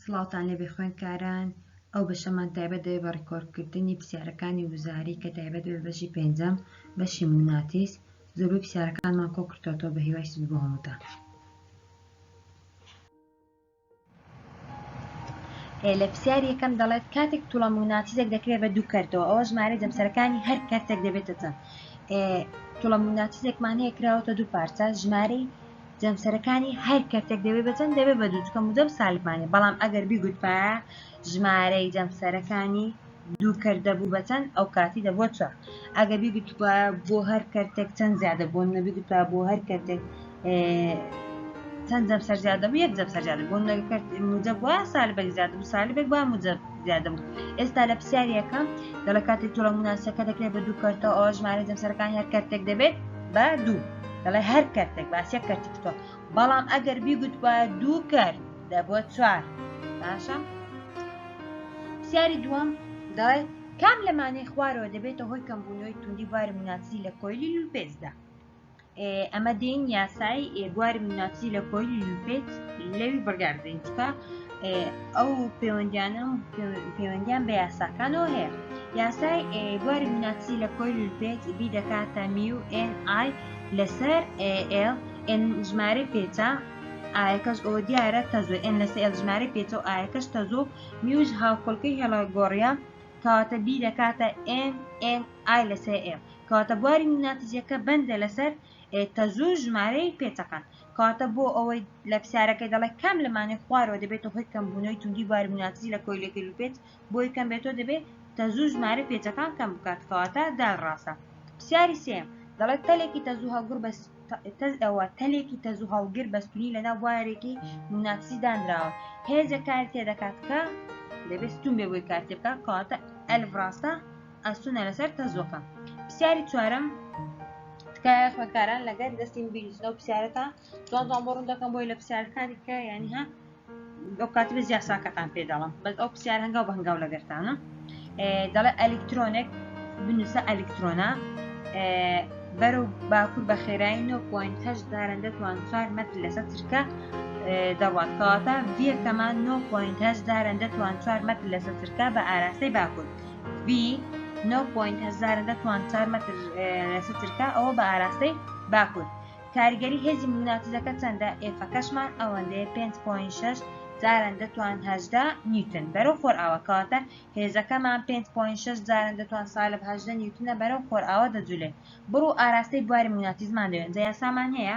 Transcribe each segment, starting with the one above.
سڵاوتان لێبێ خوێندکاران، ئەو بەشەمان تایبەت دەبێت بە ڕیکۆردکردنی پرسیارەکانی وزاری کە تایبەت دەبێت بە بەشی پێنجەم بەشی موناتیس زۆربەی پرسیارەکانمان کۆ کردۆتەوە بە هیوای سود بۆ هەمووتان. لە پرسیار یەکەم دەڵێت کاتێک توڵە موناتیزێک دەکرێت بە دوو کەرتەوە ئەوە ژمارە جەمسەرەکانی هەر کەرتێک دەبێتە چەند توڵە موناتیزێکمان هەیە کراوەتە دوو پارچە ژمارەی جەمسەرەکانی هەر کەرتێک دەبێ بە چەند دەبێ بە دوو چکە مودەب سالبمانێ بەڵام ئەگەر بیگوتبایە ژمارەی جەمسەرەکانی دوو کەر دەبوو بە چەند ئەو کاتی دەبووە چوار ئەگە بیگوتبە بۆ هەر کەرتێک چەند زیادە بۆن نەبیگوتا بۆ هەر کەرتێک چەند جەمسەر زیادە بوو یەک جەمسەر زیادە بۆن نەکرد مودەب وە سالبێک زیادە بوو سالبێک با مودەب زیادە بوو ئێستا لە پرسیارەکە دەڵە کاتێک تۆڵە مناسەکە دەکرێت بە دوو کەرتە ئەو ژمارە جەمسەرەکان هەر کەرتێک دەبێت بە دوو دەڵێ هەر کەرتێک باسیە کەرتتۆ بەڵام ئەگەر بیگوت بە دوو کرد دەبووە چوار باشە پرسیاری دووەم دەڵێ کام لەمانەی خوارەوە دەبێتە هۆی کەمبوونەوەی توندی باری مناسی لە کۆیلی لوپێزدا ئەمە دین یاسای بواری مناسی لە کۆی یوپێت لەوی بڕگار بدەین چکە ئەو پەیوەندیانە پەیوەندیان بە یاساکانەوە هەیە یاسای بواری مناسی لە کۆی یوپێت بی دەکاتە میو NI لەسەر AL N ژمارە پێچە ئاەکەش ئەو دیارە تەزۆ ئەن لەسە ئێل ژمارە پێچە و ئاەکەش تەزۆ میوش هاوکۆلکەی هێڵە گۆڕە کەواتە بی دەکاتە NN ئای لەسەر ئێم کەواتە بواری موناتزیەکە بەندە لەسەر ئێ کە زۆر ژمارەی پێچەقن کەواتە بۆ ئەوەی لە پسارەکەی دەڵێ کام لەمانێ خوارەوە دەبێتە هۆی کەمبوونەوەی توندی بواری موناتزی لە کۆیلەکەی لوپێت بۆی کەم بێتۆ دەبێت تەزوو ژمارە پێچەکان کەم بکات کەواتە دال ڕاستە پرسیاری سێم دەڵێت تەلێکی تەزوو هەڵگر بەس تەز ئەوە تەلێکی تەزوو هەڵگر بەستونی لەنا بوارێکی موناتسی دانراوە هێزە کار تێدەکات کە دەبێت ستون بێ بۆی کارتێ بکات کەواتە ئەلف ڕاستە ئەستونە لەسەر تەزۆکە پرسیاری چوارم تکایە خوێندکاران لەگەر دەستین بیرزنە و پرسیارەکان جوان جوان بۆ ڕوون دەکەم بۆی لە پرسیارەکانی کە یانی ها ئەو کاتی بە زیاساکەتان پێ دەڵم بەس ئەو پرسیار هەنگاو بە هەنگاو لەگەرتانم دەڵێ ئەلکترۆنێک بنووسە ئەلکترۆنا بەرە و باکوور بە خێرایی 9.8 دارن دەتوان 4 مەتر لەسە ترکە دەڕوات کەواتە ڤیەکەمان 9.8 دارن دەتوان 4 مەتر لەسە ترکە بە ئاراستەی باکوور بی نۆ پۆینت هەزارە دە توان چار مەتر لەسە ترکە ئەوە بە ئاراستەی باکوور کاریگەری هێزی موناتیزەکە چەندە ئێفەکەشمان ئەوەندەیە 5.6 جاران دەتوان هەشدا نیوتن بەرەو خۆرئاوە کەواتە هێزەکەمان 5.6 جاران دەتوان سالب هەشدە نیوتنە بەرەو خۆرئاوە دەجولێت بڕو ئاراستەی بواری موناتیزمان دەوێن جا یاسامان هەیە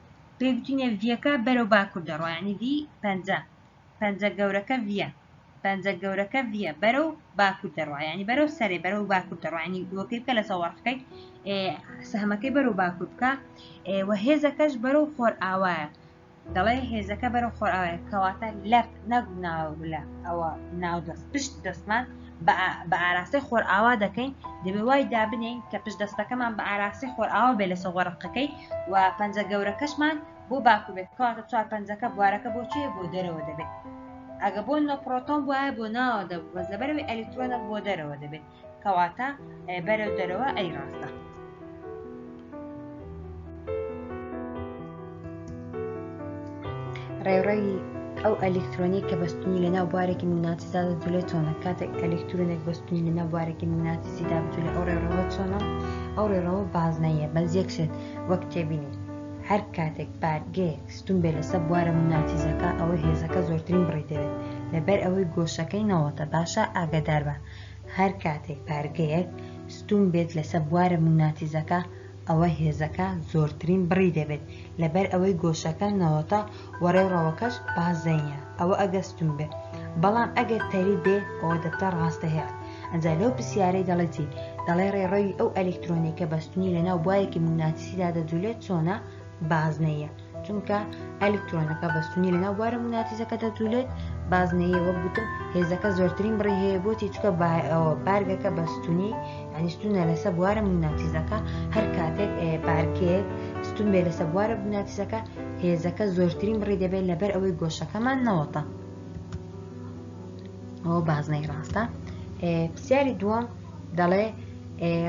پێی گوتینە ڤیەکە بەرەو باکوور دەڕۆ یعنی ڤی پەنجە پەنجە گەورەکە ڤە پەنجە گەورەکە ڤە بەرەو باکوور دەڕۆ یعنی بەرەو سەرێ بەرەو باکوور دەڕۆینی دووەکەی بکە لە سەوەڕخەکەی سەهمەکەی بەرەو باکوور بکە وە هێزەکەش بەرەو خۆر ئاوایە دەڵێ هێزەکە بەرەو خۆر ئاوایە کەواتە لەفت نەک ناوە لە ئەوە ناو دەست پشت دەستمان بە ئاراستەی خۆرئاوا دەکەین دەبێ وای دابنین کە پشت دەستەکەمان بە ئاراستەی خۆرئاوا بێ لە سەوەڕقەکەی و پەنجە گەورەکەشمان بۆ باکو بێت کەواتە چوار پەنجەکە بوارەکە بۆ چێ بۆ دەرەوە دەبێت ئەگە بۆ نۆ پرۆتۆن وایە بۆ ناوە دەبوو بەس لەبەرەوەی ئەلیکترۆنە بۆ دەرەوە دەبێت کەواتە بەرەو دەرەوە ئەی ڕاستە ڕێڕەوی ئەو ئەلکترۆنی کە بەستنی لەناو بارێکی میناتیزا دەجولە چۆنە کاتێک ئەلکترونێک بەستنی لەناو بارێکی میناتیزیدا بجولە ئەو ڕێڕەوە چۆنە ئەو ڕێڕەوە بازنەیە بەس یەکشێت وەک تێبینی هەر کاتێک بارگەیەک ستون بێ لەسەر بوارە میناتیزەکە ئەوەی هێزەکە زۆرترین بڕی دەوێت لەبەر ئەوەی گۆشەکەی نەوەتە باشە ئاگدار بە هەر کاتێک بارگەیەک ستوون بێت لەسە بوارە مووناتیزەکە ئەوە هێزەکە زۆرترین بڕی دەبێت لەبەر ئەوەی گۆشەکە نەوەتە وە ڕێڕەوەکەش بازنیە ئەوە ئەگەر ستوون بێ بەڵام ئەگەر تەری بێ ئەوە دەبتە ڕاستە هێڵ ئەجا لەو پرسیارەی دەڵێ چی دەڵێ ڕێڕەوی ئەو ئەلیکترۆنێکە بەستنی لەناو بوارێکی مووناتیسیدا دەجولێت چۆنە بازنەیە چونکە ئەلیکترۆنەکە بەستونی لە ناو بوارە موگناتیزەکە دەجولێت بازنەیە وەک گوتم هێزەکە زۆرترین بڕی هەیە بۆتی چکە بارگەکە بەستونی ئەنی ستونە لەسە بوارە موگناتیزەکە هەر کاتێک بارکێک ستون بێ لەسە بوارە موگناتیزەکە هێزەکە زۆرترین بڕی دەبێت لەبەر ئەوەی گۆشەکەمان نەوەتە ئەوە بازنەی ڕاستە پرسیاری دووەم دەڵێ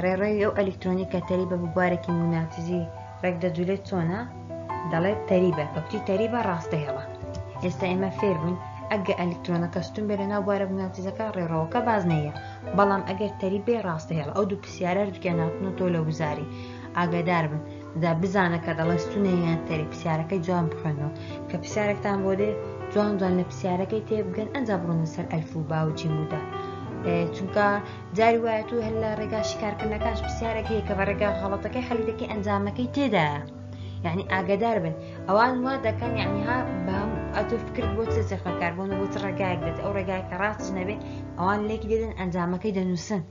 ڕێڕێوی ئەو ئەلیکترۆنی کە تەری بە بوارێکی موگناتیزی ڕێک دەجولێت چۆنە دەڵێت تەریبە کە کوتی تەریبە ڕاست دەهێڵە ئێستا ئێمە فێر بووین ئەگە ئەلکترۆنەکە ستون بێ لە ناو بوارە بناوتیزەکە ڕێڕەوەکە بازنەیە بەڵام ئەگەر تەریبێ ڕاستەهێڵ ئەو دوو پرسیارە دوکیان ناوتن و تۆ لە وزاری ئاگادار بن دا بزانە کە دەڵێ ستونەیان تەری پرسیارەکەی جوان بخوێنەوە کە پرسیارێکتان بۆ دێ جوان جوان لە پرسیارەکەی تێ بگەن ئەنج بڕۆنە سەر ئەلف و باوجی مودا چونکە جاری وایە تو هەر لە ڕێگا شیکارکردنەکانش پرسیارێک هەیە کە بە ڕێگا غەڵەتەکەی حەلی دەکەی ئەنجامەکەی تێدایە یعنی ئاگدار بن ئەوان وا دەکەن یعنی ها بەم ئەتو فکرت بۆ چ چەخەکار بۆ نەبوو چ ڕێگایەک دێت ئەو ڕێگای کە ڕاست نەبێت ئەوان لێکی دێدن ئەنجامەکەی دەنووسن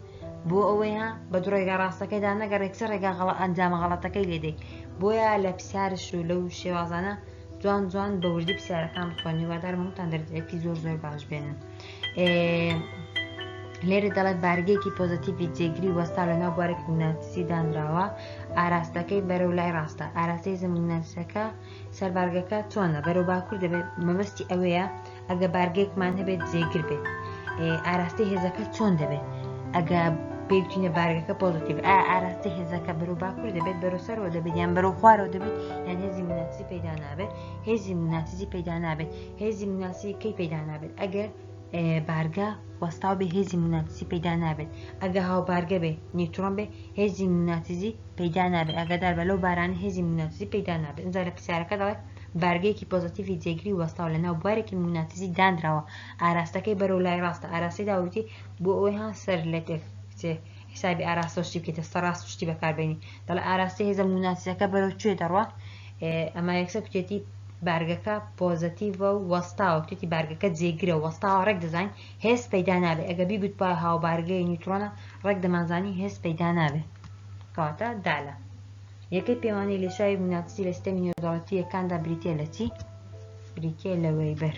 بۆ ئەوەی ها بە دوو ڕێگا ڕاستەکەیدا نەگەڕێک چ ڕێگا غەڵە ئەنجامە غەڵەتەکەی لێدەیت بۆیە لە پرسیارش و لەو شێوازانە جوان جوان بە وردی پرسیارەکان بخوێنی وادار مەمتان دەردێکی زۆر زۆر باش بێنن لێرە دەڵێت بارگەیەکی پۆزتیڤی جێگری وەستا لەناو بوارێک ناتسی دانراوە ئاراستەکەی بەرەو لای ڕاستە ئاراستەی زمینەسەکە سەربارگەکە چۆنە بەرەو باکوور دەبێت مەبەستی ئەوەیە ئەگە بارگێکمان هەبێت جێگر بێت ئاراستەی هێزەکە چۆن دەبێت ئەگە پێوتینە بارگەکە پۆزتیب ئا ئاراستە هێزەکە بەرو باکوور دەبێت بەرەو سەرەوە دەبێت یان بەرەو خوارەوە دەبێت یان هێزی مناتزی پەیدا نابێت هێزی مناتزی پەیدا نابێت هێزی مناسی کەی پەیدا نابێت ئەگەر بارگە وەستاو بێ هێزی مناتسی پەیدا نابێت ئەگە هاو بارگە بێ نیوترۆن بێ هێزی مناتزی پەیدا نابێت ئەگەدار بە لەو باران هێزی مناتزی پەیدا نابێت ئەجا لە پرسیارەکە دەڵێت بارگەیەکی پۆزتیڤی جێگری وەستاو لە ناو بوارێکی مناتزی دانراوە ئاراستەکەی بەرەو لای ڕاستە ئاراسی داوتی بۆ ئەوەی ها سەر لە تێک حیسابی ئاراستە و شتی بکەیتە سەر ڕاست و شتی بەکاربێنی دەڵێ ئاراستەی هێزە موناسیەکە بەرەو کوێ دەڕوا ئەما یەکسەر کوتێتی بارگەکە پۆزەتیڤە و وەستاوە کوتێتی بارگەکە جێگرە وەستاوە ڕێک دەزانین هێز پەیدا نابێ ئەگە بیگوت پا هاوبارگەی نیوترۆنە ڕێک دەمانزانی هێز پەیدا نابێ کەواتە دالە یەکەی پێوانەی لێشاوی موناسی لە سیستەمی نێودەوڵەتیەکاندا بریتە لە چی بریتە لە وەیبەر.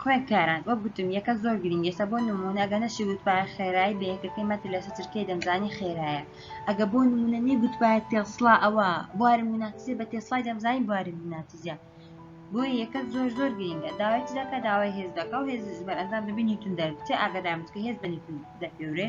خوێندکاران وەک گوتم یەکە زۆر گرنگ ئێستا بۆ نمونە ئەگە نەشی وتپای خێرایی بە یەکەکەی مەتر لە سەترکەی دەمزانی خێرایە ئەگە بۆ نمونە نی گوتپای تێسڵا ئەوە بوارم مناتزیە بە تێسڵای دەمزانی بوارم مناتزیە بۆ یەکە زۆر زۆر گرنگە داوای چ دەکە داوای هێز دەکە و هێز بەرئەنجام دەبی نیتون دەربچێ ئاگادارمت کە هێز بە نیتون دەپێورێ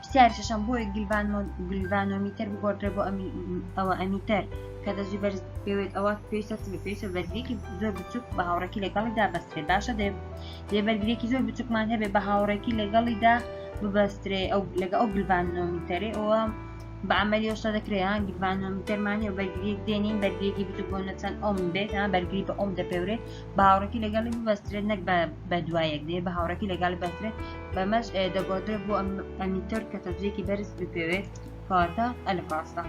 پرسیاری شەشەم، بۆیە گلڤانۆمیتەر بگۆڕدرێ بۆ ئەوە ئەمیتەر کە دەزوی بەرز پێوێت ئەوە پێویستە چ پێویستە بەرگێکی زۆر بچوک بە هاوڕێکی لەگەڵیدا بەسترێ باشە دێ دێ بەرگێکی زۆر بچوکمان هەبێ بە هاوڕێکی لەگەڵیدا ببەسترێ ئەو لەگە ئەو گلڤانۆمیتەری ئەوە بە عملی ئەوشتا دەکرێن گلڤانۆمیتەرمانی و بەرگریک دێنین بەرگێکی بچوک بۆ نەچەند ئەوم بێت ها بەرگری بە ئەوم دەپێورێت بە هاوڕێکی لەگەڵی ببەسترێت نەک بە دوایەک دێ بە هاوڕێکی لەگەڵی بەسترێت بەمەش دەگۆدرێت بۆ ئەمیتەر کە تەزیەکی بەرز بپێوێت کەواتە ئەلف ڕاستە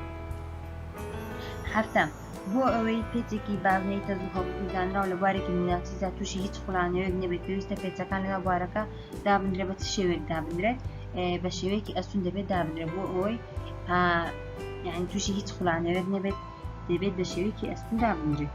هەفتم بۆ ئەوەی پێچێکی بازنەی تەز و هەڵکوزانراو لە بوارێکی میناتیزا تووشی هیچ خولانەوەیەک نەبێت پێویستە پێچەکان لەنا بوارەکە دابنرێ بە شێوێک دابنرێت بە شێوەیەکی ئەسون دەبێت دابنرێ بۆ ئەوەی یعنی تووشی هیچ خولانەوەێت نەبێت دەبێت بە شێوەیەکی ئەسون دابنرێت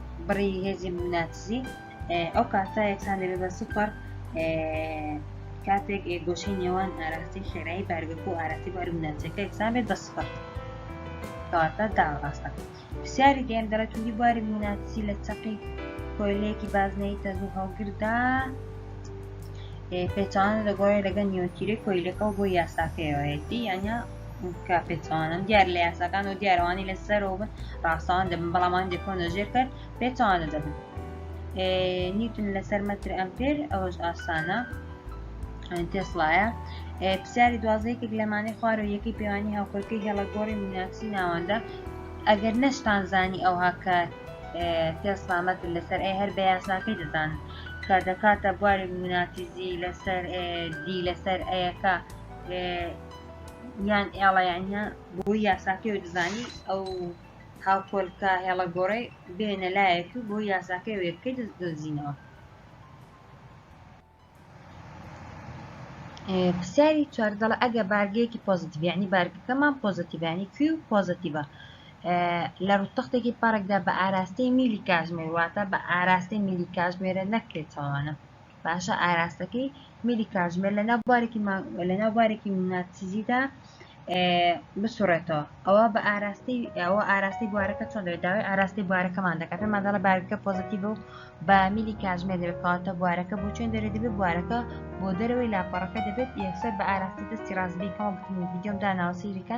بڕی هێزی موناتزی ئەو کاتە یەکسان دەبێت بە سوپەر کاتێک گۆشەی نێوان ئاراسی خێرایی بارگەکە و ئاراسی بار موناتەکە یەکسان بێت بە سوپەر کەواتە داڕاستە پرسیاری دێم دەڵێت توندی بواری موناتزی لە چەقی کۆیلەیەکی بازنەی تەز و هەڵگردا پێچوان دەگۆڕێ لەگەن نیوەتیرەی کۆیلەکە بۆ یاساکەیەوەیەتی یانە کە پێچوانن دیار لە یاساکان و دیارەوانی لە سەرەوە بن ڕاستەوان دەبن بەڵامان دەکۆنە ژێر کرد پێچوانە دەبن نیوتن لەسەر مەتر ئەمپێر ئەوەش ئاسانە تێسڵایە پرسیاری دوازەیەکێک لەمانەی خوار و یەکەی پێوانی هاوکەکەی هێڵە گۆڕی میناکسی ناوەندە ئەگەر نەشتان زانی ئەوها کە تێسلامەت لەسەر ئەی هەر بە یاساکەی دەزان کە دەکاتە بواری میناتیزی لەسەر دی لەسەر ئەیەکە یان ئێڵەیانە بۆی یاساکەی و دزانی ئەو هاوپۆلکە هێڵە گۆڕی بێنە لایەک و بۆ یاساکەی وێبکەی دەست دۆزینەوە پرسیاری چواردەڵە ئەگە بارگەیەکی پۆزیتیڤانی بارگەکەمان پۆزیتیڤانی کوی و پۆزیتیڤە لە ڕوتەختێکی پارێکدا بە ئاراستەی میلی کاژمێر واتە بە ئاراستەی میلی کاژمێرە نەکرێت چاوانە باشە ئاراستەکەی میلی کاژمێر لەناو بارێکی لەناو بارێکی ناتسیزیدا بسوڕێتەوە ئەوە بە ئاراستی ئەوە ئاراستی بوارەکە چۆن دەێت داوای ئاراستی بوارەکەمان دەکات ماداڵە بارەکە پۆزیتیڤ و بە میلی کاژمێر دەکاتە بوارەکە بۆ چۆن دەێت دەبێت بوارەکە بۆ دەرەوەی لاپەڕەکە دەبێت یەکسەر بە ئاراستی دەستی ڕاستبیکەوە بتم ویددیۆم داناوە سیریکە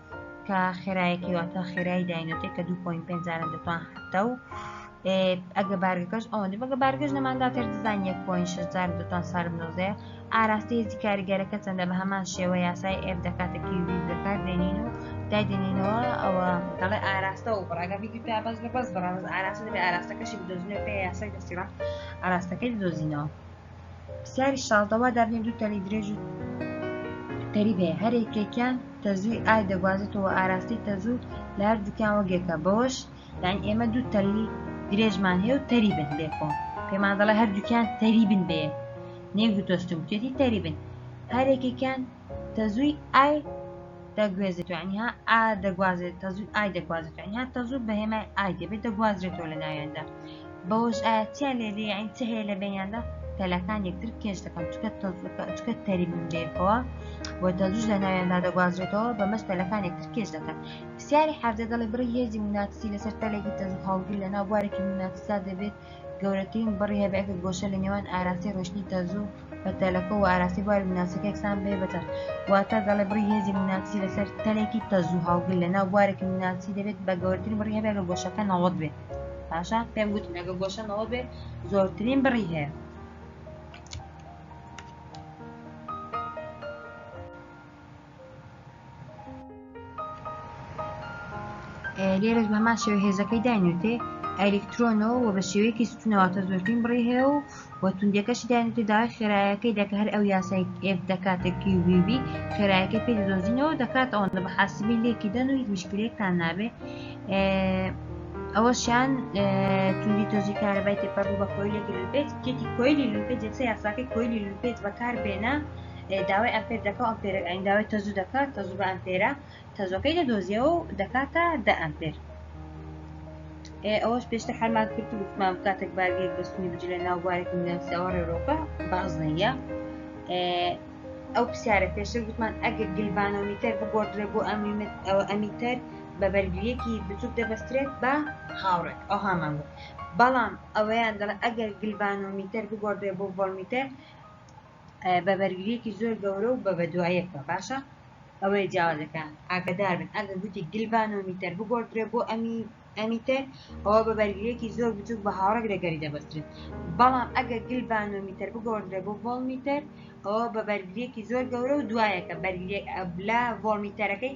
کە خێرایەکی واتە خێرای داینۆتێک کە 2.5 جارە دەتوان حتە و ئەگە بارگەکەش ئەوەندە بەگە بارگەش نەمانداتر دزان 1.6 جار دەتوان سارم نۆزەیە ئاراستی هێزی کاریگەرەکە چەندە بە هەمان شێوە یاسای ئێف دەکاتە کیوی دەکات دێنین و دایدێنینەوە ئەوە دەڵێ ئاراستە و بڕاگە بیدی تا بەس بە بەس بڕاز ئاراستە دەبێ ئاراستەکەشی بدۆزنەوە پێ یاسای دەستیڕا ئاراستەکەی دۆزینەوە پرسیاری شاڵ دەوا دابنێ دوو تەنی درێژ و تەریب هەیە هەر یەکێکیان تەزووی ئای دەگوازێتەوە ئاراستەی تەزوو لە هەردووکیان وەگێکە بەوەش یان ئێمە دوو تەلی درێژمان هەیە و تەریبن لێکۆ پێمان دەڵێ هەردووکیان تەریبن بێ نێگوتۆستم کێتی تەریبن هەرێکێکیان تەزووی ئای دەگوێزێتەوە یعنی ها ئا دەگوازێت تەزوو ئای دەگوازێت یعنی ها تەزوو بە هێمای ئای دەبێت دەگوازرێتەوە لە ناوێندا بەوەش ئاەتیا لێ لێ یعنی چ هەیە لە بینیاندا تەلەکان یەکتر کێش دەکەن چکە چکە تەریبم لێکەوە و تەزوش لە ناوێندا دەگوازرێتەوە بە مەش تەلەکان یەکتر کێش دەکەن پرسیاری حەردە دەڵی بڕی هێزی مناتسی لەسەر تەلێکی تەزوو هەڵگر لە ناو بوارێکی مناتسا دەبێت گەورەترین بڕی هەبێت گۆشە لە نێوان ئاراسی ڕۆشتنی تەزوو بە تەلەکە و ئاراسی بواری موناسەکە یەکسان بێ بەتەر واتە دەڵێ بڕی هێزی موناسی لەسەر تەلێکی تەزوو هەڵگر لە ناو بوارێکی موناسی دەبێت بە گەورترین بڕی هەبێت لە گۆشەکە نەوەت بێت باشە پێم گوت لەگە گۆشە نەوەت بێت زۆرترین بڕی هەیە لێرەش بەمان شێوە هێزەکەی داینوتێ ئەلکترۆنەوە و بە شێوەیەکی ستونەوەتە زۆرترین بڕی هەیە و وە توندەکەشی داینوتێ داوای خێرایەکەی دەکە هەر ئەو یاسای ئف دەکاتە کیوبیبی خێرایەکەی پێ دۆزینەوە دەکات ئەوەندە بە حاسبی لێکی دەن و هیچ مشکلێکتان نابێ ئەوەشیان توندی تۆزی کارەبای تێپەڕ بە کۆیلێکی لوپێت کێتی کۆیلی لوپێت جەکسە یاساکەی کۆیلی لوپێت بەکار بێنە داوای ئەمپێر دەکە و ئەمپێرەک ئەین داوای تەزوو دەکات تەزوو بە ئەمپێرە تەزۆکەی لە دۆزیەوە و دەکاتە دە ئەمپێر ئەوەش پێشتە حەلمان کرد و گوتمان کاتێک بارگێک بەستنی بجی لە ناو بارێک ناسیەوە ڕێرۆکە بازنەیە ئەو پرسیارە پێشتر گوتمان ئەگەر گلڤانۆمیتەر بگۆدرێ بۆ ئەمیمت ئەوە ئەمیتەر بە بەرگریەکی بچوک دەبەسترێت بە هاوڕێک ئەو هامان بوو بەڵام ئەوەیان دەڵێ ئەگەر گلڤانۆمیتەر بگۆدرێ بۆ ڤۆلمیتەر بە بەرگریەکی زۆر گەورە و بە بەدوایەکەوە باشە ئەوەیە جیاوازەکە ئاگدار بن ئەگە گوتی گلڤانۆمیتەر بگۆڕدرێ بۆ ئەمی ئەمیتەر ئەوە بە بەرگریەکی زۆر بچوک بە هاوڕێک لەگەری دەبەسترێت بەڵام ئەگە گلڤانۆمیتەر بگۆڕدرێ بۆ ڤۆڵمیتەر ئەوە بە بەرگریەکی زۆر گەورە و دوایەکە بەرگریەک ئەبلا ڤۆڵمیتەرەکەی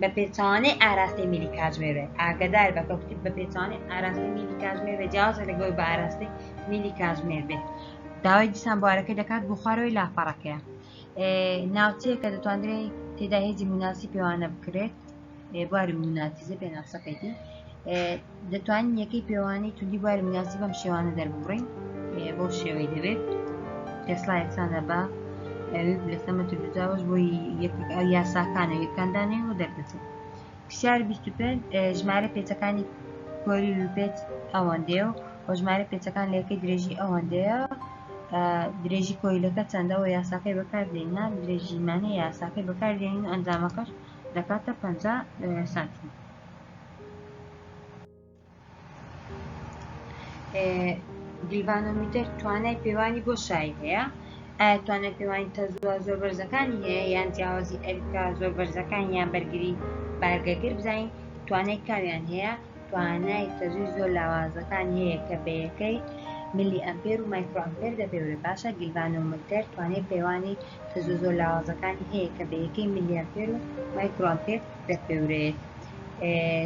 بە پێچەوانەی ئاراستەی میلی کاتژمێر بێت ئاگدار بە کەوتی بە پێچوانەی ئاراستەی میلی کاتژمێر بێت جیازە لەگەڵ بە ئاراستەی میلی کاتژمێر بێت داوای دیسان بوارەکە دەکات بۆ خوارەوەی لاپەڕەکەیە ناوچەیە کە دەتواندرێت تێدا هێزی مناسی پێوانە بکرێت بواری مناتیزە پێناسەکەیتی دەتوانین یەکەی پێوانەی توندی بواری مجازی بەم شێوانە دەربڕین بۆ شێوەی دەبێت تێسلا یەکسانە بە لەسەمە ترجاوەش بۆی یاساکانە یەکاندانێ و دەردەچێت پرسیار 25 ژمارە پێچەکانی کۆری لوپێت ئەوەندێ و وە ژمارە پێچەکان لەکەی درێژی ئەوەندەیە درێژی کۆیلەکە چەندەوە یاساکەی بەکاردێنە درێژیمانە یاساکەی بەکاردێنین ئەنجامەکەش دەکاتە 50 سانتیمەتر گیلڤانۆمیتر توانای پێوانی بۆ شایی هەیە ئایا توانای پێوانی تەزووە زۆر بەرزەکانی هەیە یان جیاوازی ئەریکا زۆر بەرزەکان یان بەرگری بارگەگر بزانین توانای کامیان هەیە توانای تەزووی زۆر لاوازەکان هەیە کە بەیەکەی ملی ئەمپێر و مایکرۆمپێر دەپێورە باشە گیلڤانۆمتر توانای پێوانی تەزوو زۆر لاوازەکانی هەیە کە بەیەکەی ملیەمپێر و مایکرۆمپێر دەپێورێت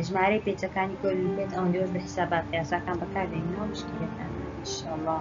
ژمارەی پێچەکانی کۆری بێت ئەوەندەوەش بە حسابات یاساکان بەکاردێن ناو مشکلەکان انشاءالله